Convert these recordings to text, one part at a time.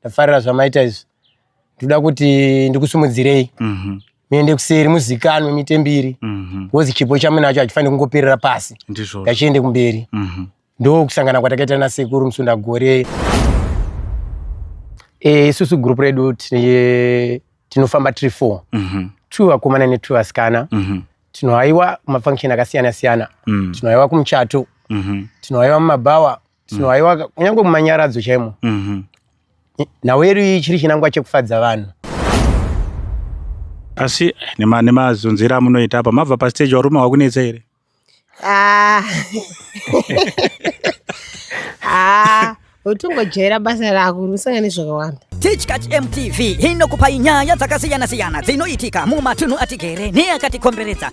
ndafarira zvamaita izvi ndoda kuti ndikusumudzirei mhm. muende kuseri muzikanwe mite mbiri mhm. bcause chipo chamunacho hachifanire kungoperera pasi ngachiende kumberi mhm. ndokusangana kwatakaita nasekuru musunda gore eh, isusu group redu tinofamba tiri four two vakomana netwo vasikana tinohaiwa mafunction akasiyana siyana tinohaiwa kumuchato tinohaiwa mumabhawa so mm. aiwa kunyange mumanyaradzo chaimo mm -hmm. nhau yedu iyi chiri chinangwa chekufadza vanhu asi nemazunzira nema amunoita apa mabva pastage warume wakunetsa here ah. ah. utongojaira basa rako unosanga nezvakawanda tichkach mtv inokupai nyaya dzakasiyana-siyana dzinoitika mumatunhu atigere neakatikomberedza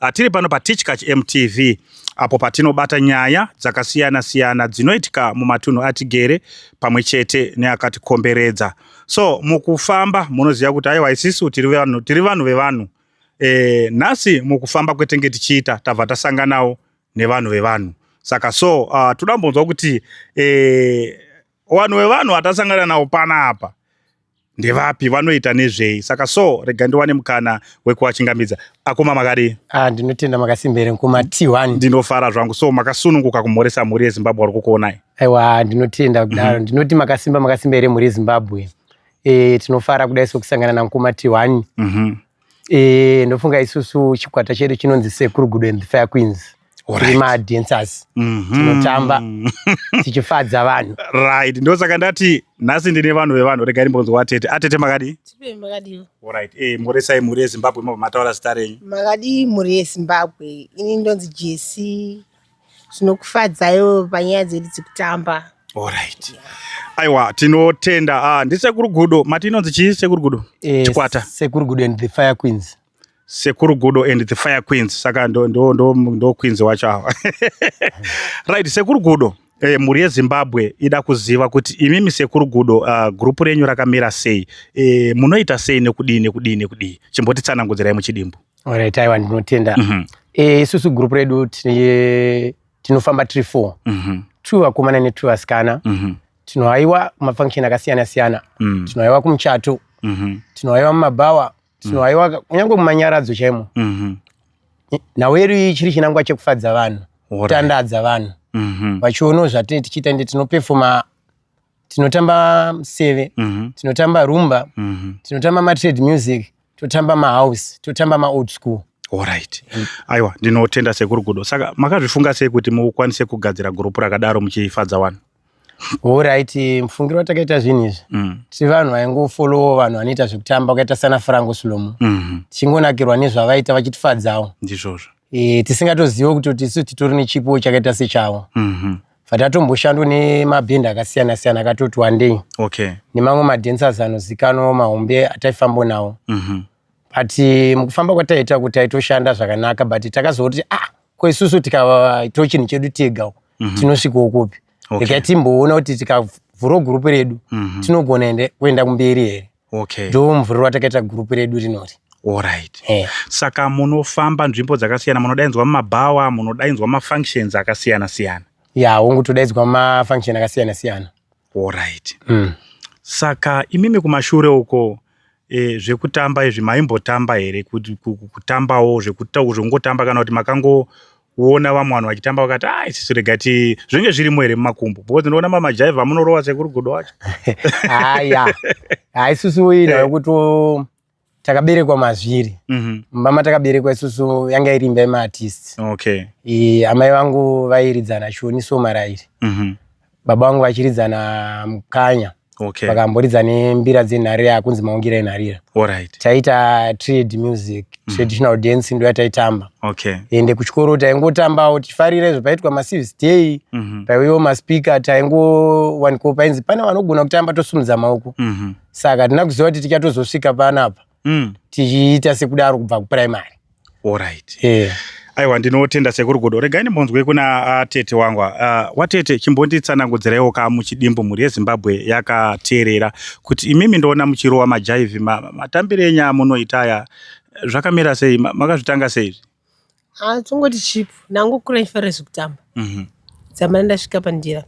Ah, tiri pano patichkach mtv apo patinobata nyaya dzakasiyana siyana dzinoitika mumatunhu atigere pamwe chete neakatikomberedza so mukufamba munoziva kuti aiwa isisu tiri vanhu tiri vanhu vevanhu e, nhasi mukufamba kwetenge tichiita tabva tasanganawo nevanhu vevanhu saka so uh, ah, toda mbonzwa kuti e, vanhu vevanhu vatasangana nawo panapa ndevapi vanoita nezvei saka so rega ndiwane mukana wekuwachingamidza akoma makadii ah, ndinotenda makasimbere mkoma t1 ndinofara zvangu so makasununguka kumhoresa mhuri yezimbabwe wari kukuonai aiwa ndinotenda kudaro mm -hmm. ndinoti makasimba makasimba here mhuri yezimbabwe e, tinofara kudai sokusangana namkoma t1 mm -hmm. Eh, ndofunga isusu chikwata chedu chinonzi Sekuru Gudo and the Fire Queens. Alright. Tiri ma dancers. Mhm. Tinotamba. Tichifadza vanhu. right ndosaka ndati nhasi ndine vanhu vevanhu regai ndimbonzwa atete atete makadii Tipe makadii? right eh, mhoresai mhuri yezimbabwe mabva mataura zita renyu Makadii mhuri yeZimbabwe? Ini ndonzi Jesi zvinokufadzaiwo panyaya dzedu dzekutamba Alright. Aiwa tinotenda. Ah, ndisekuru Gudo. Mati inonzi chii sekuru Gudo? Eh, Chikwata. Sekuru Gudo and the Fire Queens. Sekuru Gudo and the Fire Queens. Saka ndo ndo ndo, ndo Queens wacho awa. right, Sekuru Gudo. Eh, mhuri yezimbabwe ida kuziva kuti imimi sekuru gudo uh, ah, gurupu renyu rakamira sei eh, munoita sei nekudii nekudii nekudii chimbotitsanangudzirai muchidimbu Alright, aiwa ndinotenda. Mm -hmm. E, isusu group redu tine tinofamba tiri four. Mm -hmm. Two vakomana ne two vasikana. Mm -hmm. Tinohaiwa mafunction akasiyana siyana. Mm -hmm. Tinohaiwa kumuchato. Mm -hmm. Tinohaiwa mumabhawa. Tinohaiwa mm -hmm. kunyange mumanyaradzo chaimo. Mm -hmm. Nawo iri chiri chinangwa chekufadza vanhu. Kutandadza vanhu. Mm -hmm. Vachiono zvatine tichiita ndi tinopefoma tinotamba mseve mm -hmm. tinotamba rumba mm -hmm. tinotamba matrade music totamba mahouse totamba maold school orit mm. aiwa ndinotenda sekuru gudo saka makazvifunga sei kuti mukwanise kugadzira gurupu rakadaro muchifadza vanhu orit mufungiro watakaita zvinhu izvi mm. ti vanhu vaingofolowo vanhu vanoita zvekutamba wakaita sana frango slomo mm -hmm. tichingonakirwa nezvavaita vachitifadzawo ndizvozvo e, tisingatozive kuti tisu titori nechipo chakaita sechavo mm -hmm. Vatatomboshandwa nemabhenda akasiyana siyana akatoti wandei okay. nemamwe madancers anozikanwa mahombe ataifambo nawo mm -hmm. but eh, mukufamba kwataita kuti taitoshanda zvakanaka but takazoti ah ko isusu tikaito chinhu chedu tega mm -hmm. tinosvikawo kupi okay. regai timboona kuti tikavhura gurupu redu mm -hmm. tinogona kuenda kumberi here okay. ndomuvhurirwa takaita gurupu redu rinori Alright. Hey. Eh. Saka munofamba nzvimbo dzakasiyana munodaidzwa mumabhawa munodaidzwa mafunctions akasiyana siyana ya yeah, hongu todaidzwa mafunction akasiyana siyana Alright. Mm. Saka imimi kumashure uko e, zvekutamba izvi maimbotamba here kutambawo zvekungotamba kana kuti makango kuona vamwe vanhu vachitamba vakati a ah, isisu rega ti zvinenge zvirimo here mumakumbo because ndinoona mamajaiva amunorova sekuru godo wacho haya ah, ha isusu ina eh. yokuti takaberekwa mazviri mhm. mama takaberekwa isusu yanga iri imba yemaartist okay amai vangu vairidzana shoni somarairi mhm. baba vangu vachiridza namukanya okay. vakamboridza nembira dzenharira yakunzi maungira enharira right. taiita trade music mm. traditional dance ndo yataitamba okay. ende kuchikoro taingotambawo tifarira izvo paitwa maservice day mm -hmm. paiwewo maspika taingowaniko painzi pane vanogona kutamba tosumudza maoko mm -hmm. saka tina kuziva kuti tichatozosvika panapa mm. tichiita sekudaro kubva kupuraimary orit yeah. aiwa ndinotenda sekuru godo regai ndimbonzwe kuna ah, tete wangu uh, ah, watete chimbonditsanangudziraiwo ka muchidimbu mhuri yezimbabwe yakateerera kuti imimi ndoona muchirowa majaivhi matambire enyaya munoita aya zvakamira sei makazvitanga seizvi Ah, tongoti chip nangu kura ichifarira zvekutamba Mhm. dzamara ndasvika pandira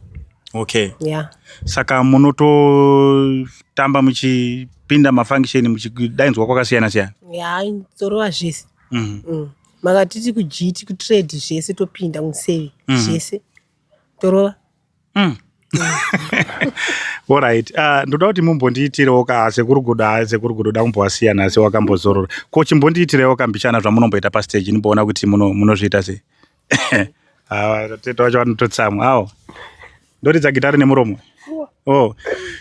okay ya saka munototamba muchipinda mafunction muchidaidzwa kwakasiyana siyana ya torova zvese Mhm. Mm. makatiti kugiti kutrade zvese topinda museve Mhm. zvese torova mm. orit uh, ah, ndoda kuti mumbondiitirewo ka sekuru gudo ha sekuru gudo da kumbovasiyana asi wakambozorora ko chimbondiitirewo kambichana zvamunomboita pasteji nimboona kuti munozviita sei ah, tete wacho vanototsamwa awo ndoridza gitari nemuromo o oh.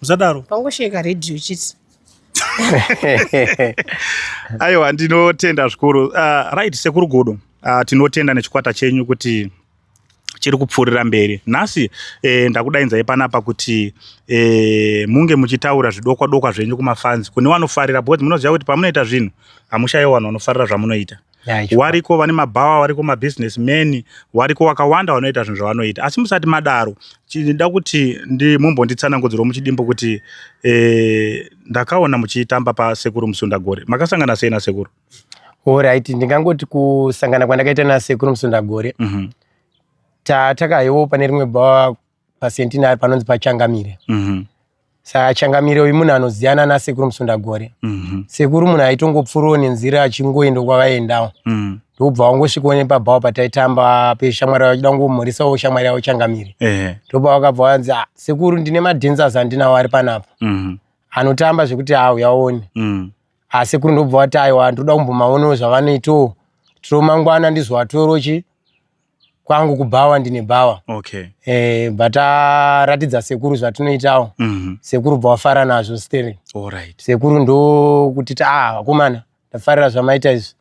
musadaro pangosheka radio chiti aiwa ndinotenda zvikuru uh, right sekuru godo uh, tinotenda nechikwata chenyu kuti chiri kupfuurira mberi nhasi eh, ndakudainzai panapa kuti eh, munge muchitaura zvidokwa dokwa zvenyu kumafanzi kune wanofarira because munoziva kuti pamunoita zvinhu hamushaye vanhu vanofarira zvamunoita wariko vane mabhawa wariko mabusiness man wariko wakawanda wanoita zvinhu zvavanoita asi musati madaro chinoda kuti mumbonditsanangudzirwa muchidimbo kuti eh, ndakaona muchitamba pasekuru musundagore makasangana sei nasekuru orit ndingangoti kusangana kwandakaita nasekuru musundagore mm -hmm. tatakayewo pane rimwe bhawa pacentenary panonzi pachangamire mm -hmm. saka changamire uyu munhu anoziyana nasekuru musundagore mm -hmm. sekuru munhu aitongopfuurawo nenzira achingoenda kwavaendawo mm -hmm. ndokubva wangosvikawo nepabhawa pataitamba peshamwari yavo achida kungomhorisawo shamwari yavo changamire eh. ndobva eh. wakabva wanzi ah, sekuru ndine madancers andinawo ari panapa mm -hmm. anotamba zvekuti auyaone mm -hmm. Ah, asekuru ndobva wati aiwa ndoda kumbomaonawo zvavanoitawo tiro mangwana ndizowatorochi kwangu kubhawa ndine bhawa okay. eh, but aratidza ah, sekuru zvatinoitawo mm -hmm. sekuru bva wafara nazvo steri right. sekuru ndokuti ta ah, vakomana ndafarira zvamaita izvi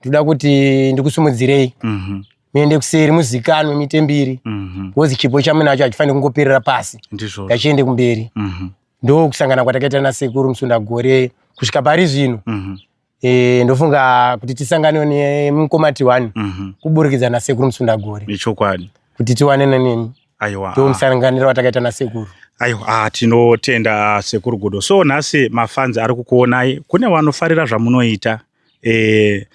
ndoda kuti ndikusumudzirei mm -hmm muende kuseri muzikanwe mite mbiri mhm. bcause chipo chamunacho hachifaniri kungoperera pasi ngachiende kumberi mhm. ndokusangana kwatakaita nasekuru musundagore kusvika pari zvino mhm. Eh, ndofunga kuti tisanganewo nemukoma tiwani mm -hmm. kuburikidza nasekuru musundagore nechokwadi kuti tiwane nenemi aiwa ndo musanganiro watakaita nasekuru aiwa ah, tinotenda sekuru gudo so nhasi mafanzi ari kukuonai kune vanofarira zvamunoita eh,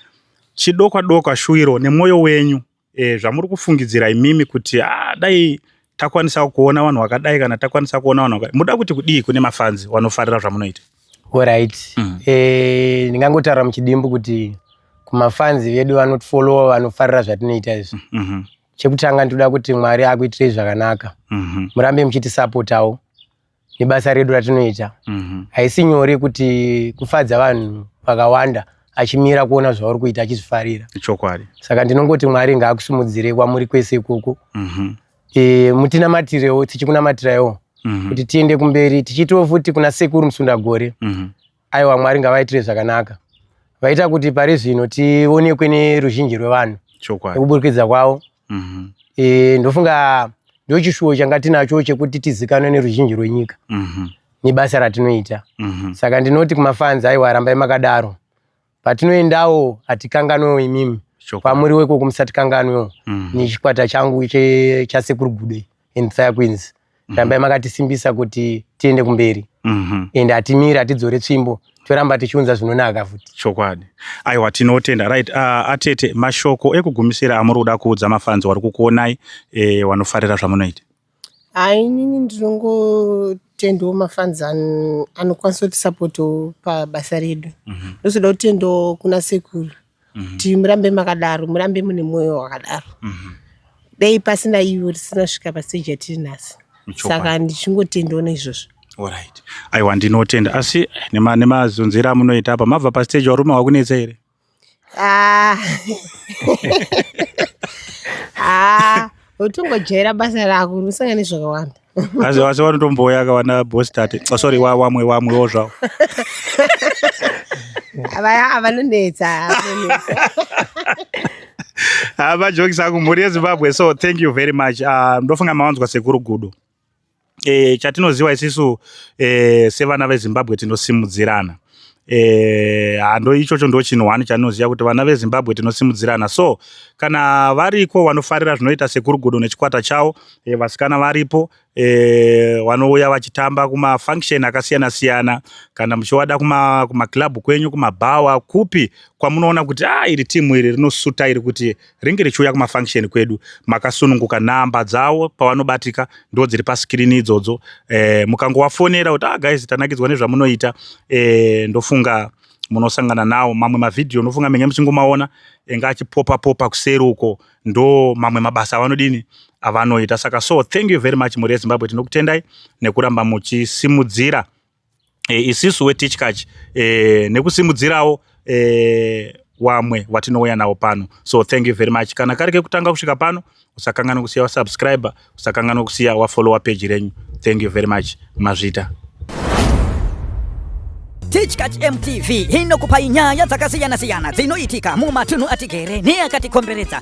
chidokwa dokwa shuwiro nemwoyo wenyu e, zvamuri kufungidzira imimi kuti ah, dai takwanisa kuona vanhu vakadai kana takwanisa kuona vanhu vakadai muda kuti kudii kune mafanzi wanofarira zvamunoita orit mm. e, eh, ndingangotaura muchidimbu kuti kumafanzi vedu vanotifollowa vanofarira zvatinoita izvi mm -hmm. chekutanga ndinoda kuti mwari akuitirei zvakanaka mm -hmm. murambe muchitisapotawo nebasa redu ratinoita mhm. haisi mm -hmm. nyore kuti kufadza vanhu vakawanda achimira kuona zvauri kuita achizvifarira chokwadi saka ndinongoti mwari ngaakusimudzire kwamuri kwese ikoko mm -hmm. e, mutinamatirewo tichikunamatirewo mm -hmm. kuti tiende kumberi tichiitiwo futi kuna sekuru musundagore mm -hmm. Aiwa Mwari ngavaitire zvakanaka. Vaita kuti pari zvino tionekwe neruzhinji rwevanhu. Chokwadi. Nekuburikidza kwavo. Mhm. Eh ndofunga ndochishuwo changa tinacho chekuti tizikanwe neruzhinji rwenyika. Mhm. Nebasa ratinoita. Mhm. Saka ndinoti kumafanzi aiwa rambai makadaro. Patinoendawo hatikanganwewo imimi kwamuri weko kumusatikanganwewo mm. nechikwata changu chasekuru gude and fire queens mm. rambai makatisimbisa kuti tiende kumberi mm -hmm. and hatimiri hatidzore tsvimbo toramba tichiunza zvinonaka futi chokwadi aiwa tinotenda right uh, atete mashoko ekugumisira amuri kuda kuudza mafanzi wari kukuonai e, wanofarira zvamunoita Haa inini ndinongotendawo mafans anokwanisa kutisapotawo pabasa redu mhm. ndozoda kutendawo kuna sekuru mhm. kuti murambe makadaro murambe mune mwoyo wakadaro mhm. dai pasina ivo risina svika paseji yatiri nhasi saka ndichingotendawo neizvozvo aiwa ndinotenda asi nemazunzira amunoita apa mabva pasteji varume vakunetsa here Ah. Ah, utongojaira basa rako unosangana nezvakawanda. Asi asi vanotomboya akawana boss tate. Oh, sorry wa wamwe wamwe wo zvawo. Vaya avanonetsa. Hava ah, jokes angu mhuri yeZimbabwe so thank you very much. Uh, ndofunga mawanzwa sekuru gudo. e, chatinoziva isisu e, sevana vezimbabwe tinosimudzirana e, hando ichocho ndo chinhu one chatinoziva kuti vana vezimbabwe tinosimudzirana so kana variko vanofarira zvinoita sekurugodo nechikwata chavo e, vasikana varipo e, vanouya vachitamba kumafunction akasiyana siyana kana muchivada kumaclub kuma kwenyu kumabhawa kupi kwamunoona kuti a ah, iri timu iri rinosuta iri kuti ringe richiuya kumafunction kwedu makasununguka nhamba dzawo pavanobatika ndo dziri paskirini idzodzo e, mukangowafonera kuti ah, guys tanakidzwa nezvamunoita e, ndofunga munosangana nawo mamwe mavhidhiyo unofunga menge muchingomaona enge achipopa popa kuseri uko ndo mamwe mabasa avanodini avanoita saka so thank you very much mhuri yezimbabwe tinokutendai nekuramba muchisimudzira e, isisu wetichkach e, nekusimudzirawo e, wamwe watinouya nawo pano so thank you very much kana kari kekutanga kusvika pano usakanganwa kusiya wasubscribe usakanganwa kusiya wafollowa peji renyu thank you very much mazvita Tichkach MTV inokupai nyaya dzakasiyana-siyana dzinoitika mumatunhu atigere neakatikomberedza.